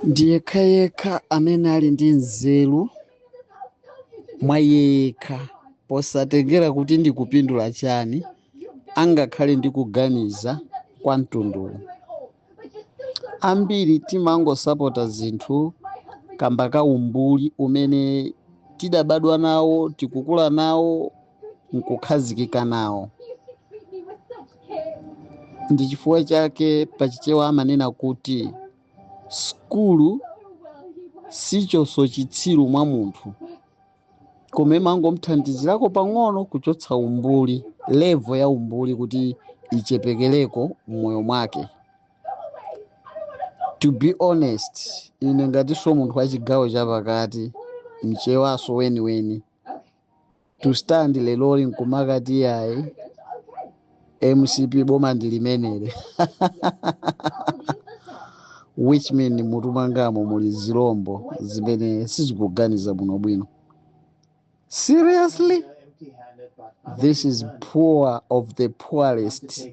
ndi yekha yekha amene ali ndi nzeru mwa iye yekha posatengera kuti ndi kupindula chani angakhale ndi kuganiza kwa mtunduwu ambiri timangosapota zinthu kamba ka umbuli umene tidabadwa nawo tikukula nawo nkukhazikika nawo ndi chifukwa chake pachichewa amanena kuti sukulu sichotsa chitsiru mwa munthu koma imangomthandizirako pang'ono kuchotsa umbuli level ya umbuli kuti ichepekereko mmoyo mwake to be honest ine ngatinso munthu wa chigawo chapakati mchewaso weniweni to stand leroli nkumakati yayi mcp boma ndi lomweli which mean mutu mwangamo muli zilombo zimene sizikuganiza bwinobwino seriously this is poor of the poorest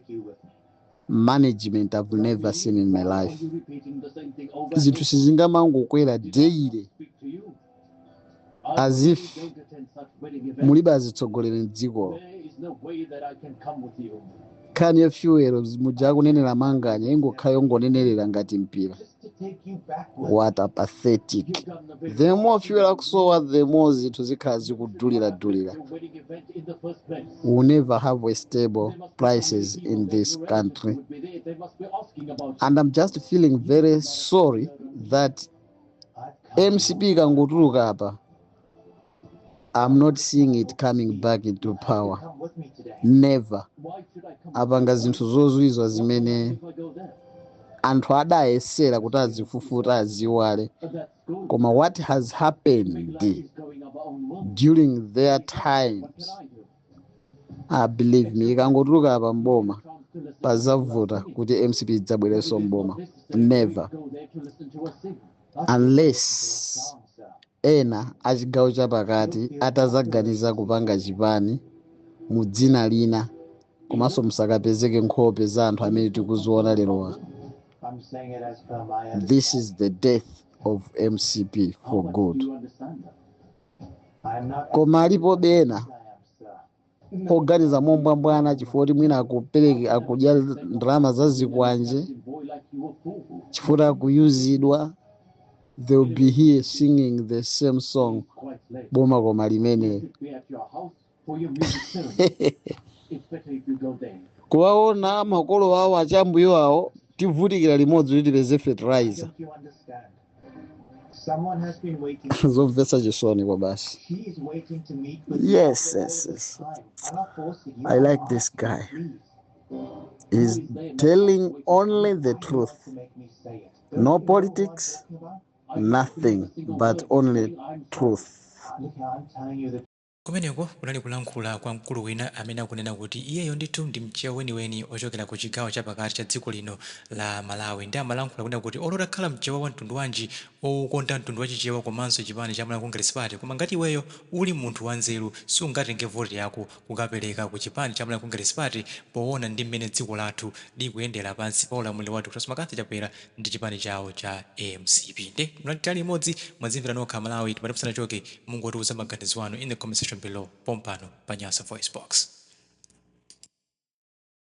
management i've never seen in my life zinthu sizingamangokwera daily as if mulibe azitsogoleri mdzikomo nkhani ya fuel muja akunenera manganya ingokhala yongonenerera ngati mpira what a pathetic the more fuel akusowa the more zinthu zikhala zikudulira-dulira we will never have a stable prices in this country and i'm just feeling very sorry that mcp ikangotuluka apa i'm not seeing it coming back into power never apanga zinthu zozizwitsa zimene anthu adayesera kuti azifufuta aziwale koma what has happened during their times believe me ikangotuluka apa mboma pazavuta kuti mcp idzabwerenso mboma never unless ena achigawo chapakati atazaganiza kupanga chipani mu dzina lina komanso musakapezeke nkhope za anthu amene tikuziona lerowa this is the death of mcp for good koma alipobe ena oganiza mombwambwana chifukwa kuti mwina akupezeka akudya ndalama za zikwanje chifukwa akuyuzidwa they will be here singing the same song boma koma limene kuwaona makolo awo akachambuyo awo tivutikira limodzi kuti tipeze fertilizer zomvetsa chisoni kwabasi yes yes yes i like this guy is telling only the truth no politics nothing but only truth Kumeneko kunali kulankhula kwa mkulu wina amene akunena kuti iyeyo ndithu ndi mchewa weniweni ochokera ku chigawo chapakati cha dziko lino la Malawi nde amalankhula kunena kuti olo utakhala mchewa wa mtundu wanji owukonda mtundu wa chichewa komanso chipani cha Malawi Congress Party koma ngati iweyo uli munthu wa nzeru sungatenge vote yako kukapeleka ku chipani cha Malawi Congress Party powona ndi mmene dziko lathu likuyendera pansi pa ulamuliro wa Dr Lazarus McCarthy Chakwera ndi chipani chawo cha mcp nde munatsala nafe limodzi mwazimvera nokha amalawi tipati musanachoke mungotiuza maganizo anu in the comment section below pompano pa nyasa voicebox.